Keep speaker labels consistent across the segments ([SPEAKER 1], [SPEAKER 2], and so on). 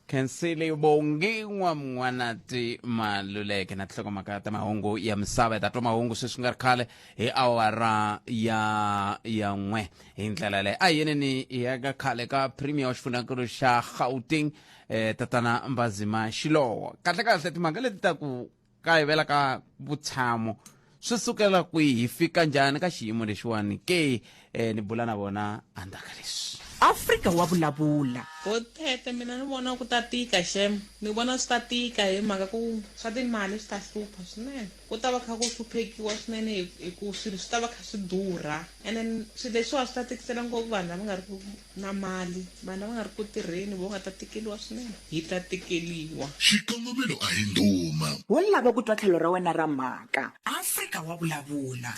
[SPEAKER 1] khensile vongiwa mn'wanati maluleke na tinhlokomhaka ta mahungu ya misava hi ta twa mahungu sweswi nga ri khale hi awara ya ya n'we hi ndlela leyo a hi yeneni hi ya ka khale ka premier wa xifunakulu xa gauteng eh, tatana mbazima xilowa kahlekahle timhaka leti ta ku kayivela ka vutshamo swi sukela kwihi hi fika njhani ka xiyimo lexiwani ke eh, ni bula na vona andzaka leswi afrika wa
[SPEAKER 2] vulavula bothete mina
[SPEAKER 3] ni vona ku ta tika xem ni vona swi ta tika hi mhaka ku swa timali swi ta hlupha swinene ku ta va kha ku hluphekiwa swinene hi- hi ku swilo swi ta va kha swi durha and then swilo leswiwa swi ta tikisela ngopfu vanhu lava nga ri ku na mali vanhu lava nga ri ku tirheni vo nga ta tikeliwa swinene hi ta tikeliwa Xikongomelo a
[SPEAKER 4] hi ndhuma. Wo lava ku twa
[SPEAKER 2] tlhelo ra wena ra mhaka. Afrika wa vulavula.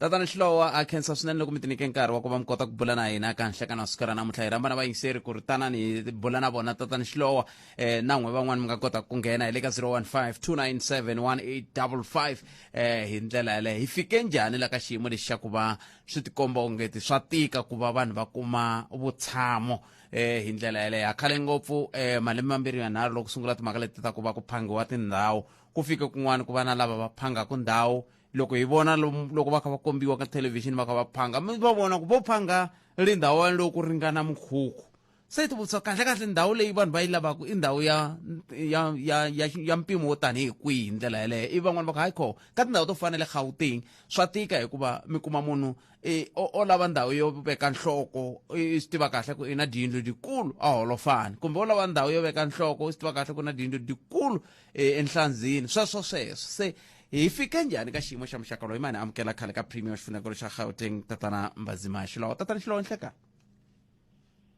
[SPEAKER 2] Tatana Xilowa
[SPEAKER 1] ha khensa swinene loko mi ti nyike nkarhi wa ku va mi kota ku bula na hina ka nhlekana wa siku ra namuntlha hi ramba na vayingiseri ku ri tanani hi bula na vona tatana Xilowa um eh, na n'we van'wani mi nga kota ku nghena hi le ka 0152971855 um eh, hi ndlela yaleyo hi fike njhani la ka xiyimo lexi xa ku va swi tikomba ongeti swa tika ku va vanhu va kuma vutshamo eh hi ndlela yeleyo ha khale ngopfu eh malembe mambirhi yanharhu loko sungula timhaka leti ta ku va ku phangiwa tindhawu ku fike kun'wana ku va na lava va phangaka ndhawu loko hi vona loko va kha va kombiwa ka thelevhixini va kha va phanga mi va vona ku vo phanga ri ndhawu yaleyo ku ringana mukhukhu se ti vutisa kahle kahle ndhawu leyi vanhu va yi lavaka i ndhawu ya ya ya ya, ya mpimo wo tanihi kwihi hi ndlela yeleyo ivi van'wana va ku hayi kho ka tindhawu to fana le gauteng swa tika hikuva mi kuma munhu e, o, o lava ndhawu yo veka nhloko i swi tiva kahle ku i na diyindlu dikulu a holofani kumbe o lava ndhawu yo veka nhloko i swi tiva kahle ku na diyindlu dikulu e, enhlandzini sweswo sweswo se hi fike njhani ka xiyimo xa muxaka loyi mani amukela khale ka premium xifunekelo xa gauteng tatana mbazimaxi lawa tatana xilowo nhlekani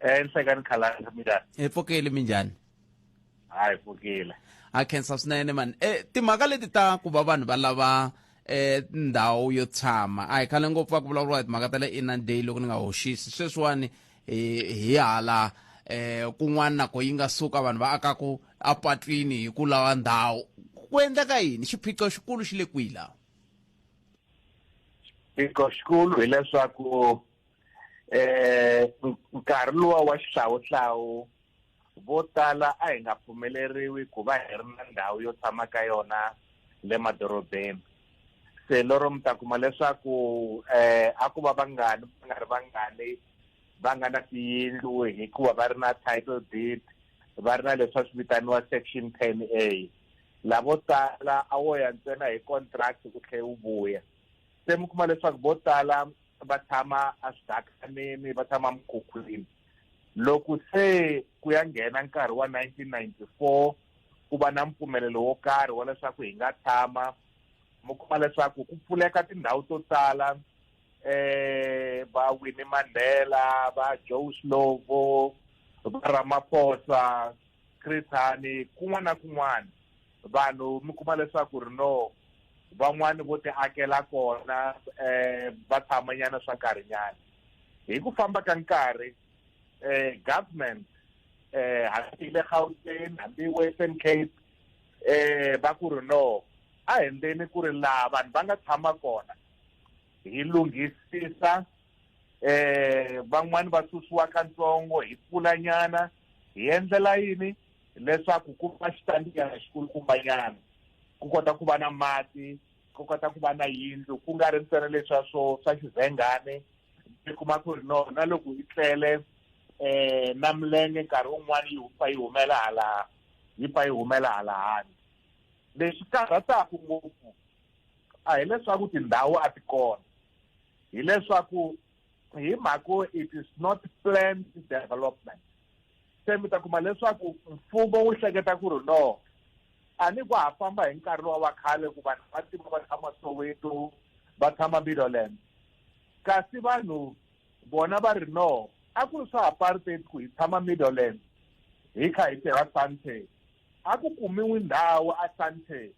[SPEAKER 5] enhlekani khalanga minjani hi pfukile minjhani
[SPEAKER 1] hayi
[SPEAKER 5] pfukile a khensa swinene
[SPEAKER 1] mani e timhaka leti ta ku va vanhu va lava eh ndhawu yo tshama a hi khale ngopfu va ku vulavuriwa hi timhaka ta le inner day loko ni nga hoxisi sweswiwani hi hi hala eh kun'wana nako yi nga suka vanhu va akaku apatwini hi ku lava ndhawu ku endleka yini xiphiqo xikulu xi le kwihi laha
[SPEAKER 5] xiphiqo xikulu hileswaku eh nkarhi lowa wa xihlawuhlawu vo tala a hi nga pfumeleriwi ku va hi ri na ndhawu yo tshama ka yona le madorobeni se lero mi ta kuma leswaku eh a ku va vangani va nga ri vangani va nga na tiyindlu hikuva va ri na title deed va ri na leswi va swi vitaniwa section ten a lavo tala a wo ya ntsena hi contract ku tlhe u vuya se mi kuma leswaku vo tala va tshama eswidakaneni va tshama mukhukhwini loko se ku ya nghena nkarhi wa 1994 ku va na mpfumelelo wo karhi wa leswaku hi nga tshama mi kuma leswaku ku pfuleka tindhawu to tala eh va Winnie Mandela va Joe Slovo va Ramaphosa Chris Hani kun'wana na kun'wana vanhu mi kuma leswaku ri no van'wani vo ti akela kona um va tshamanyana swa nkarhinyana hi ku famba ka nkarhi um government um hambi le gauteng hambi western cape um va ku ri no a hi ndzeni ku ri laha vanhu va nga tshama kona hi lunghisisa um van'wani va susiwa ka ntsongo hi pfulanyana hi endlela yini leswaku ku va xitandziyana xikulukumbanyana ku kota ku va na mati ku kota ku va na yindlu ku nga ri ntsena leswa swo swa xivhengane mi kuma ku ri no na loko yi tlele um na milenge nkarhi wun'wana yi pfa yi humela hala yi pfa yi humela hala hani lexi karhataka ngopfu a hileswaku tindhawu a ti kona hileswaku hi mhako it is not planned development se mi ta kuma leswaku mfumo wu hleketa ku ri no a ni ku ha famba hi nkarhi lowa wa khale ku vanhu va tima va tshama soweto va tshama middleland kasi vanhu bona va ri no a ku ri swa apartheid ku hi tshama middleland hi kha hi tirha sante a ku kumiwi ndhawu a sante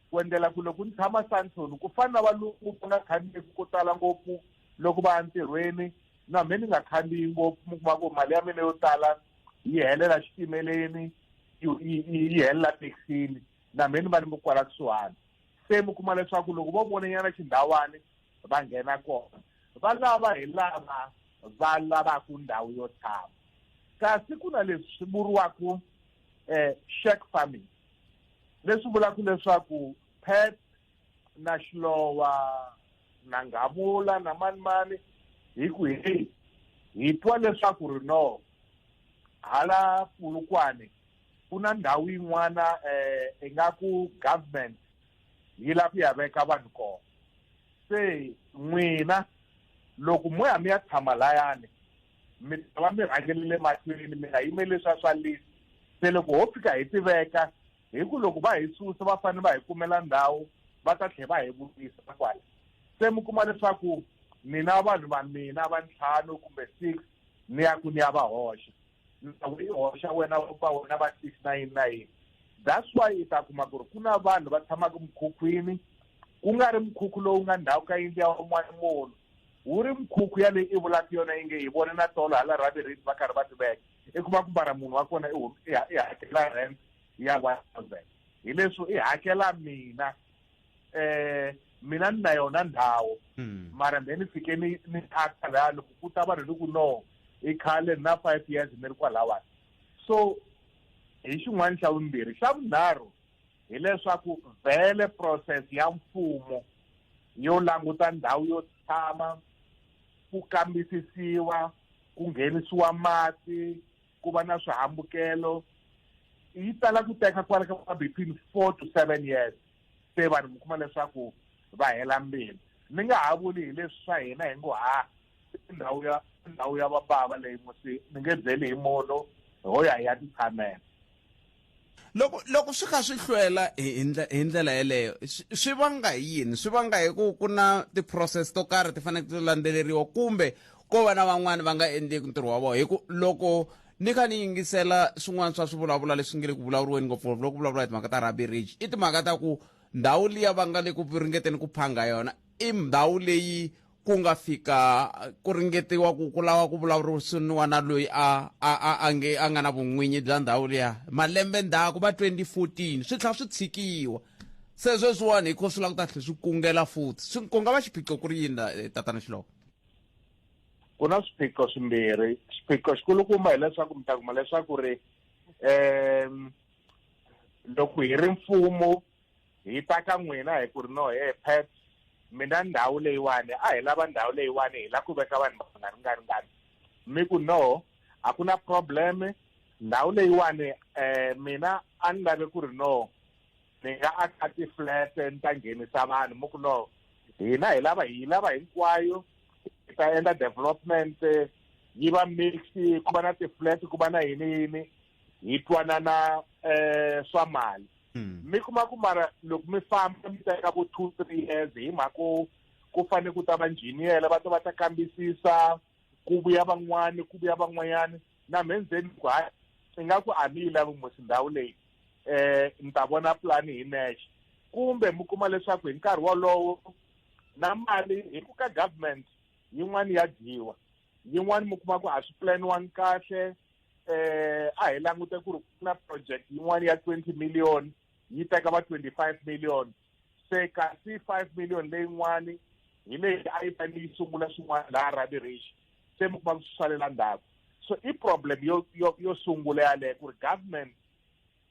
[SPEAKER 5] ku endlela ku loko ni tshama santon ku fana na valungu va nga khandziyeki ko tala ngopfu loko va ya ntirhweni na mhe ni nga khandziyi ngopfu mi kuma ku mali ya mina yo tala yi helela xitimeleni yi helela taxini na mhe ni va ni mi kwala kusuhani se mi kuma leswaku loko vo vonanyana xindhawani va nghena kona va lava hi lava va lavaka ndhawu yo tshama kasi ku na leswi vuriwaka um eh, shack farming leswi vulaka leswaku pet na xilowa na nghavula na manimani hi ku hi hi twa leswaku ri no hala pulukwane ku na ndhawu yin'wana um ingaku government yi lava ku ya veka vanhu kona se n'wina loko mo ya mi ya tshama layani mi ta va mi rhangele le mahlweni mi nga yimeli leswa swa list se loko ho fika hi tiveka hi ku loko va hi susa va fanele va hi kumela ndhawu va ta tlhela va hi vutisa kwala se mi kuma leswaku nina vanhu va mina va ntlhanu kumbe six ni ya ku ni ya va hoxa ndhawu yi hoxa wena va wena va six na yini na yini that's why i ta kuma ku ri ku na vanhu va tshamaka mukhukhwini ku nga ri mukhukhu lowu nga ndhawu ka yindlu ya un'wana munhu wu ri mikhukhu ya leyi i vulaka yona yi nge hi vone na tolo hala raviriti va karhi va tiveka i kuma ku mara munhu wa kona i hakela rent ya one thousand hi leswo i hakela mina um mina ni na yona ndhawu hmm. mara then ni fike ni ni thaxa laya loko ku ta vanhu ni ku no i khale na five years ni ri kwalawani so hi xin'wana xa vumbirhi xa vunharhu hileswaku vhele process ya mfumo yo languta ndhawu yo tshama ku kambisisiwa ku nghenisiwa mati ku va na swihambukelo yi tala ku teka kwala ka between four to seven years se vanhu mi kuma leswaku va hela mbilu ni nga ha vuli hi leswi swa hina hi ngo ha ndhawu ya ndhawu ya vabava leyi musi ni nge byeli hi munhu ho ya hi ya titshamela
[SPEAKER 1] loko loko swi kha swi hlwela hi hi ndlela yeleyo swi vanga hi yini swi vanga hi ku ku na ti-process to karhi ti faneke ti landzeleriwa kumbe ko va na van'wani va nga endleki ntirho wa vona hi ku loko ni kha ni yingisela swin'wana swa swivulavula leswi nge le ku vulavuriweni ngopfungopfu loko vulavula hi timhaka ta rugby ridge i timhaka ta ku ndhawu liya va nga le ku ringeteni ku phanga yona i ndhawu leyi ku nga fika ku ringetiwa ku ku lava ku vulavurisiniwa na loyi a a a a nge a nga na vun'winyi bya ndhawu liya malembe ndzhaku va 2014 swi tlha swi tshikiwa se sweswiwani hikho swi lava ku ta tlhe swi kungela futhi swi ku nga va xiphiqo ku ri yini eh, tatana xiloko
[SPEAKER 5] ku na swiphiqo swimbirhi xiphiqo xikulukumba hileswaku mi ta kuma leswaku ri um loko hi ri mfumo hi ta ka n'wina hi ku ri no he pet mina ndhawu leyiwani a hi lava ndhawu leyiwani hi la ku veka vanhu va nga ringaringani mi ku no a ku na problem ndhawu leyiwani um mina a ni lave ku ri no ni nga aka ti-flat ni ta nghenisa vanhu mi ku no hina hi lava hi lava hinkwayo hi ta endla development yi va mix ku va na ti-flat ku va na yini yini hi twanana um swa mali hmm. mi kuma ku mara loko mi famba mi teka vo two three years hi mhaka ku ku fanele ku ta va njhiniyela va ta va ta kambisisa ku vuya van'wani ku vuya van'wanyana na mhe ndzeni ku hayi i nga ku a mi yi lavi musi ndhawu leyi um ni ta vona pulani hi nexe kumbe mi kuma leswaku hi nkarhi wolowo na mali hi ku ka government yin'wani ya dyiwa yin'wani mi kuma ku a swi pulaniwangi kahle eh a hi langute ku ri ku na project yin'wana ya 20 million yi teka va 25 million se kasi 5 million leyin'wani hi leyi a yi fanele yi sungula swin'wana laha rabirishi se mi kuma swi salela ndzhaku so i problem yo yo yo sungula yaleyo ku ri government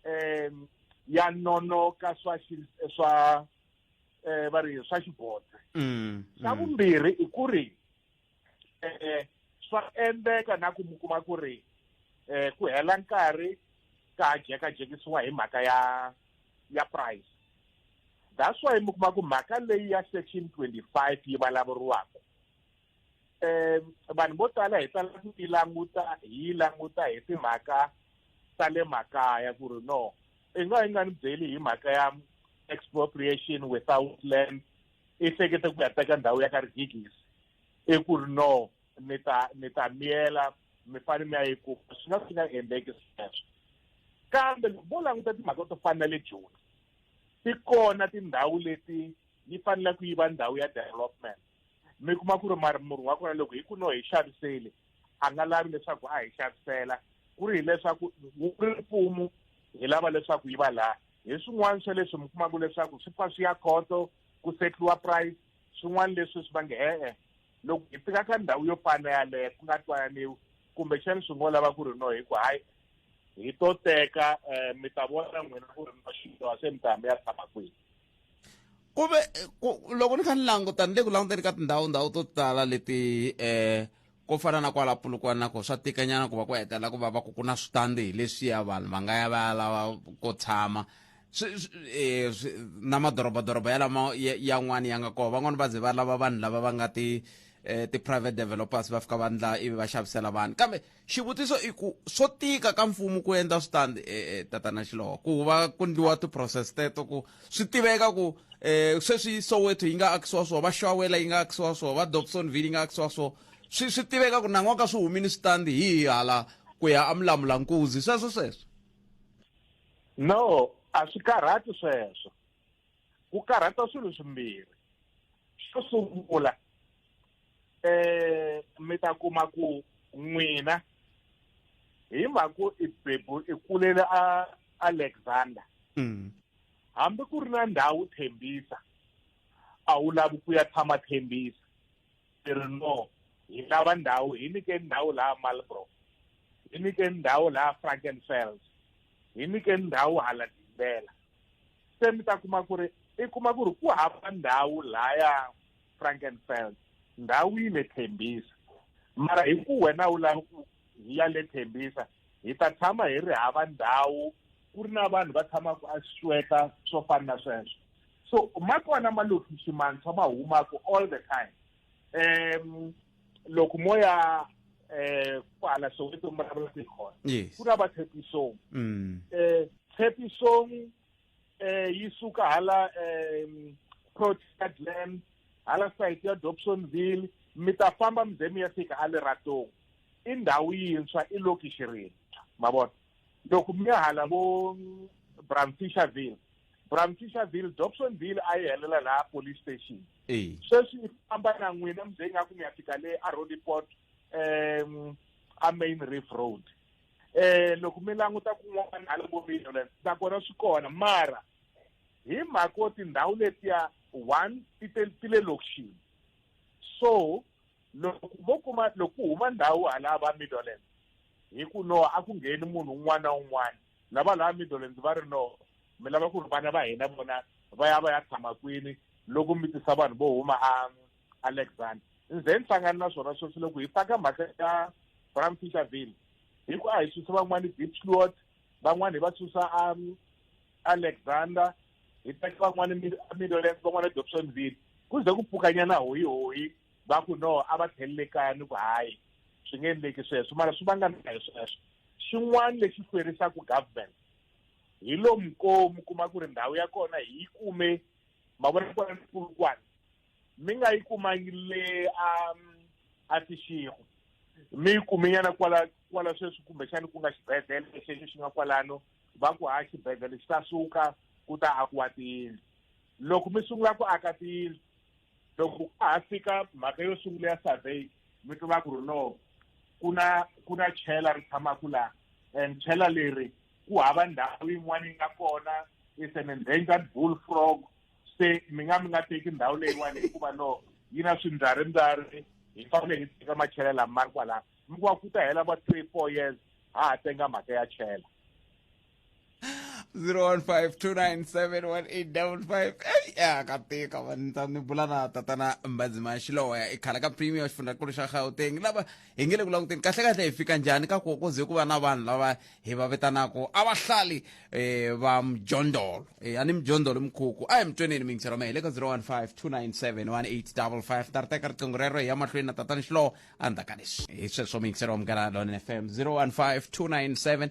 [SPEAKER 5] um ya nonoka swa swa um va ri swa xibodze xa vumbirhi i ku ri eh swa endleka na ku mi kuma ku ri eh ku hela nkarhi ka jeka jekisiwa hi mhaka ya ya price that's why mi kuma ku mhaka leyi ya section 25 yi vulavuriwaka eh vanhu vo tala hi tala ku yi languta hi yi languta hi timhaka ta le makaya ku ri no i nga yi nga ni byeli hi mhaka ya expropriation without land i hlekete ku ya teka ndhawu ya ka rigigisi i ku ri no ni ta ni ta miyela mi fane mi ya yi kuma swi nga swi nga endleki sweswo kambe loko vo languta timhaka to fana na le joni ti kona tindhawu leti yi faneleke yi va ndhawu ya development mi kuma ku ri murhi wa kona loko hi ku no hi xaviseli a nga lavi leswaku a hi xavisela ku ri hileswaku wu ri mfumo hi lava leswaku yi va laha hi swin'wana swa leswi mi kumaka leswaku swi pfa swi ya khoto ku setliwa price swin'wana leswi swi va nge e-e loko hi fika ka ndhawu yo fana yaleyo ku nga twananiwi kumbexani swi ngo lava ku ri no hi ku hayi hi to teka um mi ta vona n'wina ku ri no xidyoha se mi ta mi ya tshama kwihi ku
[SPEAKER 1] ve ku loko ni kha ni languta ni le ku languteni ka tindhawu ndhawu to tala leti eh ko fana na kwala pulukwana na ko swa tikanyana ku va ku hetelela ku va va ku ku na switandi hi leswiya vanhu va nga ya va ya lava ko tshama swi- swi- eh, swi- na madorobadoroba ya lama ya- yan'wani ya nga kona van'wani va ze va lava vanhu lava va nga ti eh, ti-private developers va fika va ndla ivi va xavisela vanhu kambe xivutiso i ku swo tika ka mfumo ku endla switandi e, e, tatana xilowa ku va ku ndliwa ti-process teto ku swi tiveka ku um sweswi soweto yi nga akisiwa swoho va xawela yi nga akisiwa swoho va dobsonville yi nga akisiwa swoho swi swi tiveka ku nan'waka swi humini switandi hi hala ku ya amulamula nkuzi sweswo sweswo no
[SPEAKER 5] a swi karhati sweswo ku karhata swilo swimbirhi xo sungula eh mi ta kuma ku n'wina hi mhaku i bebu i kulele a alexander mm. hambi ku ri na ndhawu thembisa a wu lavi ku ya tshama thembisa ti ri no hi lava ndhawu hi nyikeni ndhawu laha malbro hi nyikeni ndhawu laha frankenfels hi nyikeni ndhawu hala dimbela se mi ta kuma ku ri i kuma ku ri ku hava ndhawu laya frankenfels ndhawu yi le thembisa mara hi ku wena u lava ku hi ya le thembisa hi ta tshama hi ri hava ndhawu ku ri na vanhu va tshamaka a sweka swo fana na sweswo so ma kona malokixi mantshwa ma humaka all the time um loko mo ya um kwala soweto mi vulavula ku hi kona ku na va tshepisong um tshepisong eh yi suka hala eh Port Glen hala site ya Dobsonville mi ta famba mi ze mi ya fika a Leratong i ndhawu yintshwa i lokishi rintshwa ma vona loko mi ya hala vo Bramfisherville Bramfisherville Dobsonville a yi helela laha police station sweswi i famba na n'wina mi ze ingaku mi ya fika le a Roodepoort um a Main Reef Road eh loko mi languta kun'wana hala vo millions nakona swi kona mara hi mhaka yo tindhawu letiya one ti te ti le lokixini so loko vo kuma loko ku huma ndhawu hala va middlelands hi ku no a ku ngheni munhu un'wana na un'wana lava laha middlelands va ri no mi lava ku ri vana va hina vona va ya va ya tshama kwini loko mi tisa vanhu vo huma a alexander ni ze ni hlangani na swona sweswi loko hi faka mhaka ya bram fisherville hi ku a hi susa van'wana deep slot van'wana hi va susa um, alexander hi teka van'wana middlelands van'wana dobsonville ku ze ku pfukanyana hoyi hoyi va ku no a va tlhelele kaya ni ku hayi swi nge endleki sweswo mara swi vangana hi sweswo xin'wana lexi hlwerisaka government hi lomu ko mi kuma ku ri ndhawu ya kona hi yi kume mavona kona ni kulukwana mi nga yi kumangi le a a tixigo mi yi kumenyana kwala kwala sweswi kumbexani ku nga xibedhlele xexo xi nga kwalano va ku ha xibedhlele xi ta suka ku ta akiwa tiyindlu loko mi sungula ku aka tiyindlu loko ku ha fika mhaka yo sungula ya survey mi tiva ku ri no ku na ku na chela ri tshamaka laha and chela leri ku hava ndhawu yin'wana yi nga kona is an endangered bull frog se mi nga mi nga teki ndhawu leyiwani hikuva no yi na swimbyarimbyari hi fanele hi teka machela lama ma ri kwalano mi kuva ku ta hela va three four years ha ha tenga mhaka ya chela 0152971855
[SPEAKER 1] eyi ya ka tika vanitsa ni bula na tatana mbazima xiloya i khala ka premier xifundzankulu xa gauteng lava hi nge le ku languteni kahlekahle hi fika njhani ka ku koze ku va na vanhu lava hi va vitanaka a va hlali um eh, va mjondolo um a ni mjondolo mikhukhu a hi mi tweneni mingisi roma hi le ka 015 297 1855 ta ri teka riqingho rero hi ya mahlweni na tatani xilowo a ndzhaku ka leswi hi sweswo mingisi roma munghana lone fm 015 297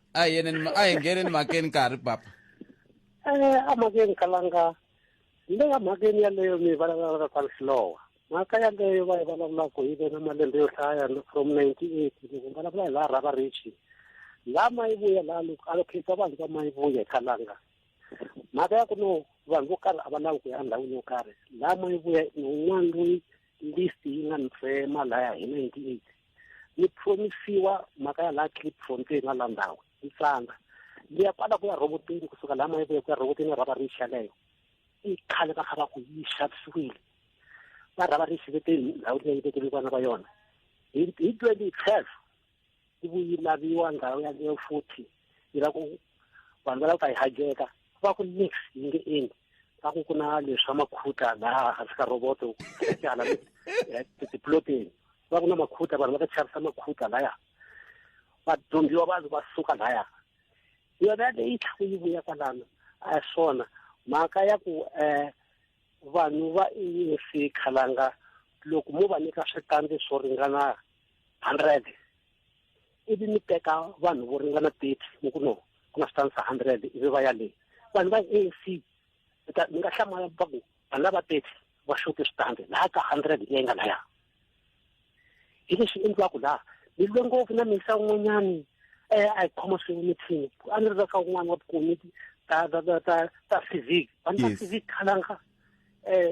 [SPEAKER 6] a hi yeneni ma- a hi
[SPEAKER 1] ngheneni makeni ka ha ri papa Eh,
[SPEAKER 6] a makeni kalanga le ka makeni yaleyo mi vulavulaka ka lihlowa mhaka yaleyo va yi vulavulaka yi ve na malembe yo hlaya no- from ninety eight loko mi vulavula hi laha rhava richi laha ma yi vuya laha loko a lokhetsa vanhu va ma yi vuya hi kalanga mhaka ya ku no vanhu vo karhi a va lavi ku ya endhawini yo karhi laha ma yi vuya ni un'wana loyi list yi nga ni tsema laya hi ninety eight ni promisiwa mhaka ya laha clipfontein na la ndhawu yi tsanga liya kwala ku ya rhoboteni kusuka laha mayi kuya ku ya rhoboteni ya rhava rixa leyo i khale va kha va ku yi xavisiwile va rhava rixa veteni ndhawu leyi vekele vana va yona hi hi twenty twelve yi vuyi laviwa ndhawu yaleyo futhi yi la ku vanhu va lava ku ta yi hajeka va ku nix yi nge endli va ku ku na leswi swa makhuta laha hansi ka roboto tyala eh, tiploteni va ku na makhuta vanhu va ta chavisa makhuta laya vadyondziwa vanhu va suka laya yona leyi tlhaku yi vuya kwalano a hi swona mhaka ya ku um vanhu va insi khalanga loko mo va nyika switandi swo ringana hundred ivi mi teka vanhu vo ringana thirty mi ku no ku na switanisa hundred ivi va ya le vanhu va a c mi ta mi nga hlamala va ku vanhu lava thirty va xote switandi laha ka hundred leyi nga laya hi leswi endliwaka laha mi lwe ngopfu na misa un'wanyani um a hi khoma swin'we mithini a ni ri ka un'wana wa vukomiti ta ta ta ta ta civic vanhu ta civic khalanga um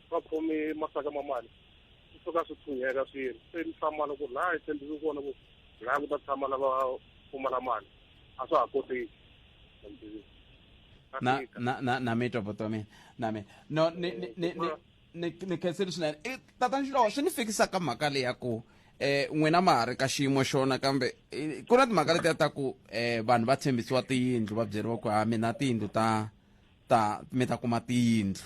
[SPEAKER 7] va khome masaka ma mali swi suka swi
[SPEAKER 1] tshunheka swi ri se ni hlamala ku ri laha hi tshembeke kona ku laha ku ta tshama lava pfumala mali a swa ha koteki na na na na mi twa bota mina na mina no ni ni ni ni ni khenseli swinene i tatani xilowo swi ni fikisa ka mhaka leyi ya ku eh n'wina ma ha ri ka xiyimo xona kambe ku na timhaka letiya ta ku eh vanhu va tshembisiwa tiyindlu va byeriwa ku ha mina tiyindlu ta ta mi ta kuma tiyindlu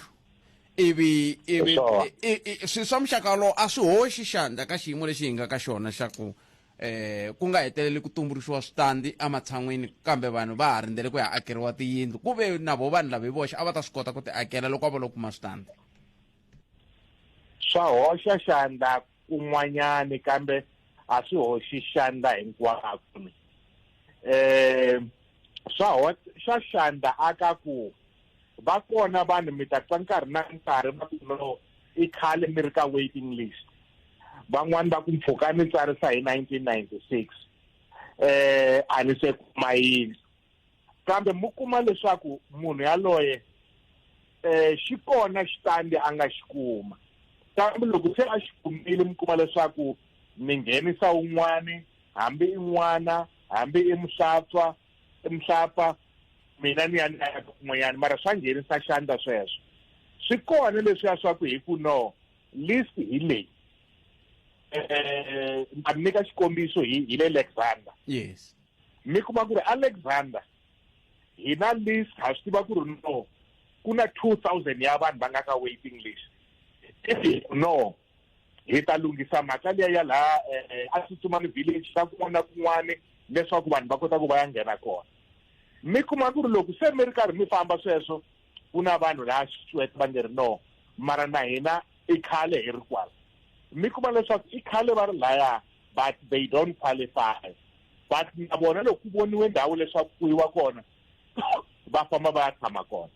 [SPEAKER 1] ivi ivi Swona. i- i- i- swi swa muxaka wolowo a swi hoxi xandla ka xiyimo lexi hi nga ka xona xa ku eh ku nga heteleli ku tumbuluxiwa switandi ematshan'wini kambe vanhu va ha rindzele ku ya akeriwa tiyindlu ku ve na vo vanhu lava hi voxe a va ta swi kota ku ti akela loko a va lo kuma switandi swa hoxa
[SPEAKER 5] xandla kun'wanyani kambe a swi hoxi xandla hinkwako eh swa swa xandla aka ku va kona vanhu mi ta twa nkarhi na nkarhi va ku no i khale mi ri ka waiting list van'wani va ku mpfhuka ni tsarisa hi 1996 eh a ni se kuma yini kambe mu kuma leswaku munhu yaloye eh xi kona xitandi a nga xi kuma kambe loko se a xi kumile mi kuma leswaku mi nghenisa un'wani hambi i n'wana hambi i muhlatswa i muhlapfa mina ni ya ni ya kun'wanyana mara swa nghenisa xandla sweswo swi kona leswiya swa ku hi ku no list hi leyi um eh, ni xikombiso hi le alexander yes
[SPEAKER 1] mi kuma ku ri
[SPEAKER 5] alexander hina list ha swi tiva ku ri no ku na two thousand ya vanhu va nga ka waiting list if no hi ta lunghisa mhaka liya ya laha eh, a tsutsumani village ka kun'wana na kun'wana leswaku vanhu va kota ku va ya nghena kona mi kuma ku ri loko se mi ri karhi mi famba sweswo ku na vanhu laha xitswete va nge ri no mara na hina i khale hi ri kwala mi kuma leswaku i khale va ri laya but they don't qualify but na vona loko ku voniwe ndhawu leswaku ku yiwa kona va famba va ya tshama kona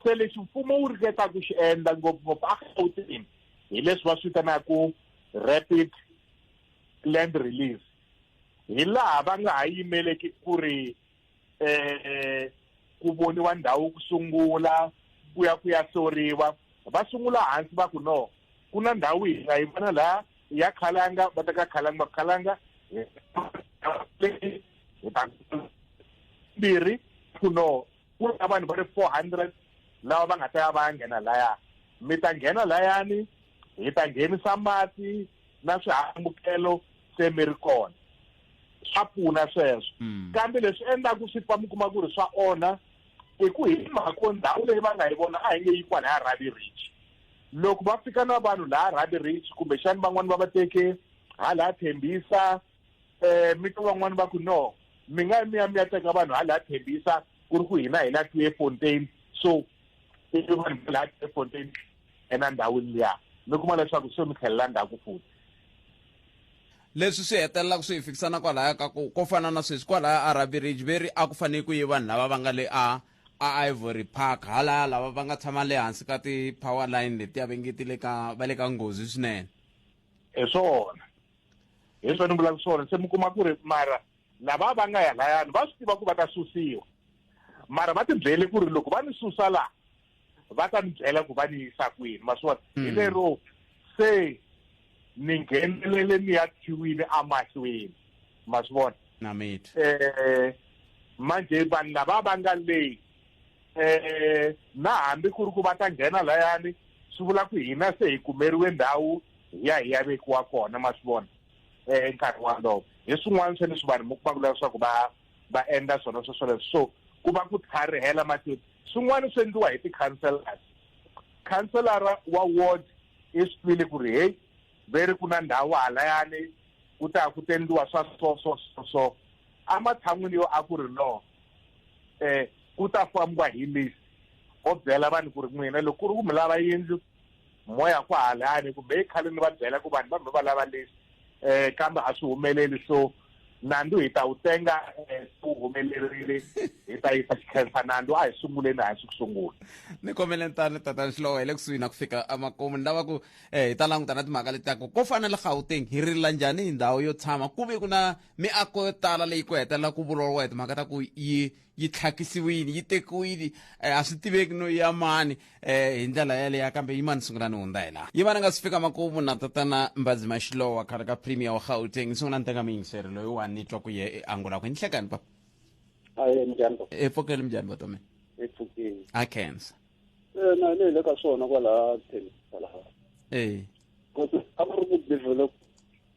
[SPEAKER 5] se lexi mfumo wu ringeta ku xi endla ngopfungopfu agautini hi leswi va swi vitanaka rapid land release hi laha va nga ha yimeleki ku ri eh ku voniwa ndhawu ku sungula ku ya ku ya soriwa va sungula hansi va ku no ku na ndhawu hi nga yi vona laha ya khalanga va teka khalanga va khalanga mbirhi ku no ku na vanhu va ri four hundred lava va nga ta ya va ya nghena laya mi ta nghena layani hi ta nghenisa mati na swihambukelo se mi ri kona swa pfuna sweswo mm. kambe leswi endlaku swi fa mi kuma ku ri swa onha hi ku hi mhako ndhawu leyi va nga yi vona a hi nge yi kwala ya rabi rich loko va fika na vanhu laha rabi rich kumbexani van'wani va va teke hala thembisa um mi to van'wani va ku no mi nga mi ya mi ya teka vanhu hala thembisa ku ri ku hina hi la tue fontain so ivi vanhu va laha tue fontain ena ndhawini liya mi kuma leswaku se mi tlhelela ndzhaku futhi
[SPEAKER 1] Leswi swi hetelelaka swi hi fikisa na kwalaya ka ku ko fana na sweswi kwalaya a Rugby Ridge ve ri a ku fanele ku yi vanhu lava va nga le a a Ivory Park halaya lava va nga tshama le hansi ka ti-power line letiya ve nge ti le ka va le ka nghozi swinene hi
[SPEAKER 5] swona hi swona ni vulaka swona se mi kuma ku ri mara lava va nga ya layani va swi tiva ku va ta susiwa mara va tibyele ku ri loko va ni susa laha va ta ni byela ku va ni yisa kwini ma swi vona hi lero se ni nghenelele ni ya khiwini amahlweni ma swi vona namiti eh manje vanhu lava va nga leyi eh na hambi ku ri ku va ta nghena layani swi vula ku hina se hi kumeriwe ndhawu hi ya hi ya vekiwa kona ma swi vona eh nkarhi walowo hi swin'wana swa leswi vanhu mi kuma ku leswaku va va endla swona sweswoleswo so ku va ku tlharihela matiko swin'wana swi endliwa hi ti-councellors councillara wa ward i swi twile ku ri heyi ve ri ku na ndhawu halayani ku ta ku tendiwa swa so so so so ematshan'wini yo a ku ri no um ku ta fambiwa hi list o byela vanhu ku ri n'wina loko ku ri ku mi lava yindlu moya ku halani kumbe i khale ni va byela ku vanhu va mi va lava leswi um kambe a swi humeleli so nandzu hi ta wu tenga eh, se wu humelerile hi ta yisa xikhensa nandzu a hi sunguleni a hi swi ku sungula ni kombele tani
[SPEAKER 1] tatani xilowo hi le kusuhi na ku fika emakumu ni lava ku um hi ta languta na timhaka leti taku ko fana le gauteng hi rila njhani hi ndhawu yo tshama ku ve ku na miako yo tala leyi ku hetelela ku vuriwa timhaka ta ku yi yi tlhakisiwile yi tekiwile eh, a swi tiveki no ya mani eh, hi ndlela yaleya kambe yi mani sungula ni hundza hi laha yi va ni nga si fika makumu na tatana mbazi maxilowa khale ka premier wa gauteng sungula ni teka miyingiseri loyi wa ni twa ku ye e angula ku ni hlekani papa aye njhani
[SPEAKER 6] papa epfokeli minjhani
[SPEAKER 1] vatomeni epfukeni a
[SPEAKER 6] cancer Eh, na
[SPEAKER 1] le
[SPEAKER 6] le ka swona kwalaha thelisa laha e kodwa a ku ri ku develop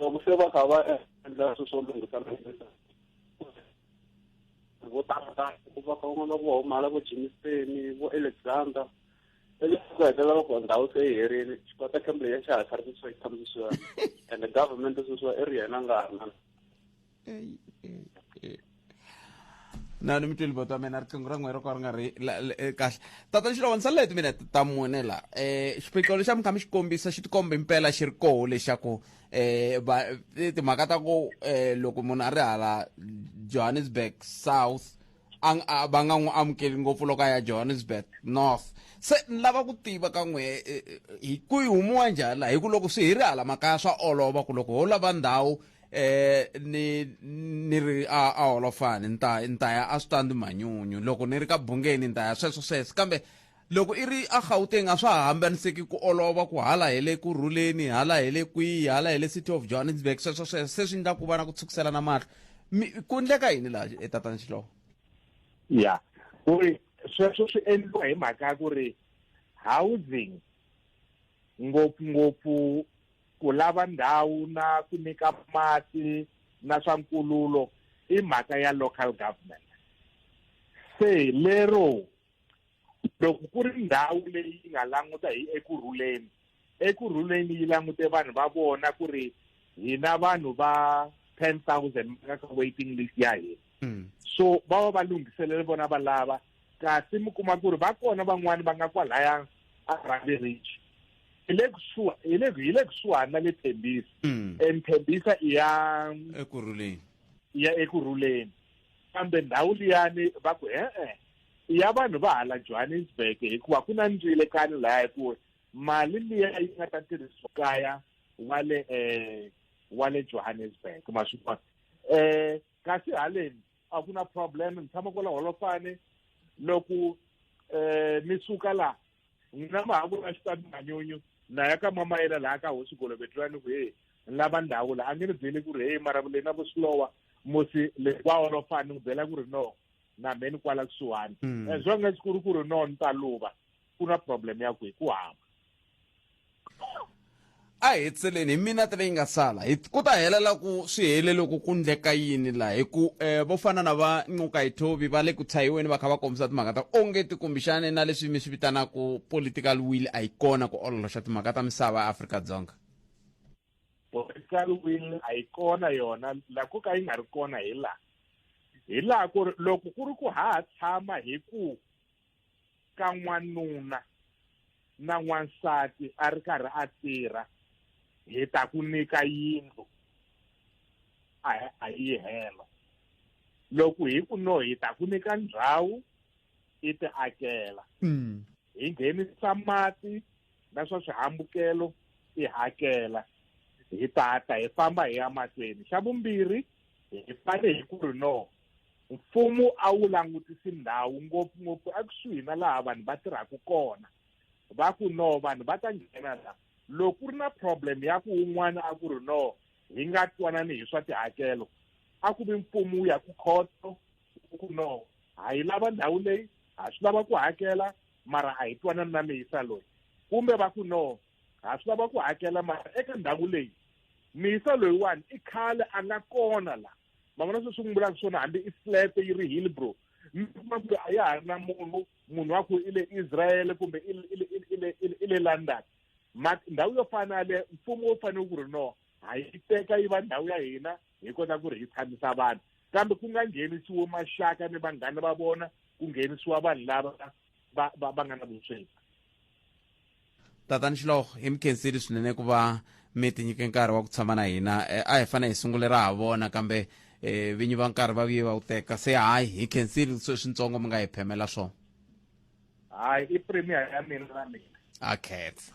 [SPEAKER 6] loko se va kha va endla swilo swo lunghisa vo tala va kha van'wana vo humala vo jimiseni vo alexander eleswi ku hetelela loko ndhawu se yi herile xikota kemble ya xa ha tlharikisiwa yi tshamisiwa and government sweswiwa i ri yena nga ha ri na
[SPEAKER 1] na ni mi tweli bota mina riqingho ra n'we ro ka ri nga ri e, kahle tata xilo wa ni salela hi timinete ta mune la um xiphiqo lexi a mi kha mi xi kombisa xi tikomba impela xi ri koho lexaku um timhaka ta ku um loko munhu a ri hala johannesburg south va nga n'wi amukeli ngopfu loko a ya johannesburg north se ni lava ku tiva ka n'we eh, eh, eh, hi ku yi humiwa njhani laha hi ku loko swi hi ri hala makaya swa olova ku loko ho lava ndhawu eh ni ni ri a a holofani ni ta ni ta ya a switandi manyunyu loko ni ri ka bungeni ni ta ya sweswo sweswo kambe Loko i ri aGauteng a swa ha hambaniseki ku olova ku hala hi le Kurhuleni, hala hi le kwihi, hala hi le City of Johannesburg, sweswo sweswo se swi ndla ku va na ku tshukiselana mahlo. Mi, ku ndleka yini laha, e Tatana Xilovo? Ya,
[SPEAKER 5] ku ri sweswo swi endliwa hi mhaka ya ku ri housing ngopfungopfu ku lava ndhawu na ku nyika mati na swa nkululo i mhaka ya local government. Se lero loko ku ri ndhawu leyi yi nga languta hi eku rhuleni eku rhuleni yi langute vanhu va vona ku ri hina vanhu va ten thousand ka ka waiting list ya hina hmm. so va va va lunghiselele vona va lava kasi mi kuma ku ri va kona van'wani va nga kwalaya a rhandi rich hi le kusuha hi le hi le kusuhani na le thembisa hmm. and thembisa i ya eku rhuleni i ya eku rhuleni kambe ndhawu liyani va ku e-e ya vanhu va hala johannesburg hikuva ku na ndzile kani lahaya ku mali liya yi nga ta tirhisiwa kaya wa le um wa le johannesburg ma swi vona um kasi haleni a ku na problem ni tshama kwala holofane loko um mi suka laha n'wina ma ha ku na xitati manyunyu na ya ka mama yena laha ka hosi golovetlani ku heyi ni lava ndhawu laha a nge ni byeli ku ri heyi mara le na ku swilowa musi le kwa holofane ni ku byela ku ri no na me ni kwala kusuhani mm. as long as ku ri ku ri no ni ta luva ku na problem ya ku hi ku hamba
[SPEAKER 1] a hi tseleni hi minete leyi nga sala ku ta helela ku swi hele loko ku ndleka yini laha hi ku um vo fana na va ncuka hi thovi va le ku tshayiweni va kha va kombisa timhaka ta onge ti kumbixane na leswi mi swi vitanaka political will a yi kona ku ololoxa timhaka ta misava ya afrika dzonga political
[SPEAKER 5] will a yi kona yona la ku ka yi nga ri kona hi laha hi laha ku ri loko ku ri ku ha ha tshama hi ku ka n'wanuna na n'wansati a ri karhi a tirha hi ta ku nyika yindlu a a yi hela loko hi ku no hi ta ku nyika ndhawu i ti akela Mm. hi nghenisa mati na swa swihambukelo hi hakela hi tata hi famba hi ya mahlweni xa vumbirhi hi fane hi ku ri no mfumo a wu langutisi ndhawu ngopfungopfu ekusuhi na laha vanhu va tirhaka kona va ku no vanhu va ta nghena la loko ku ri na problem ya ku un'wana a ku ri no hi nga twanani hi swa tihakelo a ku vi mfumo wu ya ku khoto ku no ha yi lava ndhawu leyi ha swi lava ku hakela mara a hi twanani na miyisa loyi kumbe va ku no ha swi lava ku hakela mara eka ndhawu leyi miyisa loyiwani i khale a nga kona la ma vona sweswi n'wi vulaka swona hambi i flat yi ri hillbro mi kuma ku a ya ha ri na munhu munhu wa ku i le israel kumbe i le london ndhawu yo fana yaleyo mfumo wu fanele ku ri no ha yi teka yi va ndhawu ya hina hi kota ku ri hi tshamisa vanhu kambe ku nga nghenisiwo maxaka ni vanghana va vona ku nghenisiwa vanhu lava va va va nga na vusweti tatani
[SPEAKER 1] xiloho hi mi khenseli swinene ku va mi tinyike nkarhi wa ku tshama na hina eh, a hi fane hi sungule ra ha vona kambe um vinyi va nkarhi va vuye va wu teka se hayi hi khenseli swintsongo mi nga hi phemela swona
[SPEAKER 5] hayi i premier ya mina na mina a khetsa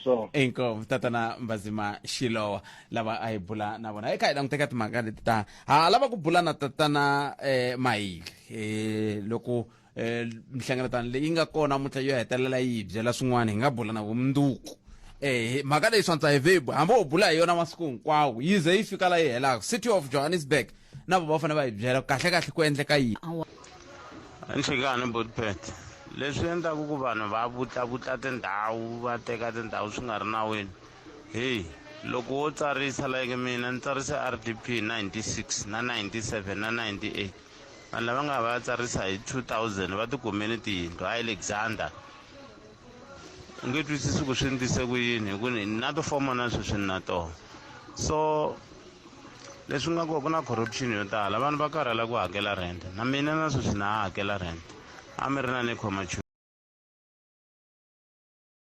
[SPEAKER 1] so
[SPEAKER 5] inkomu tatana
[SPEAKER 1] mbazima xilowa lava a hi bula na vona eka hi languteka timhaka leti ta ha lava ku bula na tatana eh, mayili eh, loko eh, nhlengeletano leyi nga kona mutla yo hetelela yi byela swin'wana hi nga bula na vumundzuku eh mhaka leyi swantsa hi vebu hambi u bula hi yona masiku hinkwawo yi ze yi fika la yi helaka city of johannesburg na vo va fanele va hi byela kahle kahle ku endleka yini
[SPEAKER 8] nhlekani botpet leswi endlaku ku vanhu va vutllavutla tindhawu va teka tindhawu swi nga ri nawini heyi loko wo tsarisa like mina ni tsarise r d p 96 na 97 na 98 vanhu lava nga va ya tsarisa hi 2000 va tikumeni tiyindlu a alexander u nge twisisi ku swi endlise ku yini hi ku ni na tifoma na sweswi ni na tona so leswi nga kona ku na corruption yo tala vanhu va karhala ku hakela rent na mina na sweswi na ha hakela rent a mi ri na ni khoma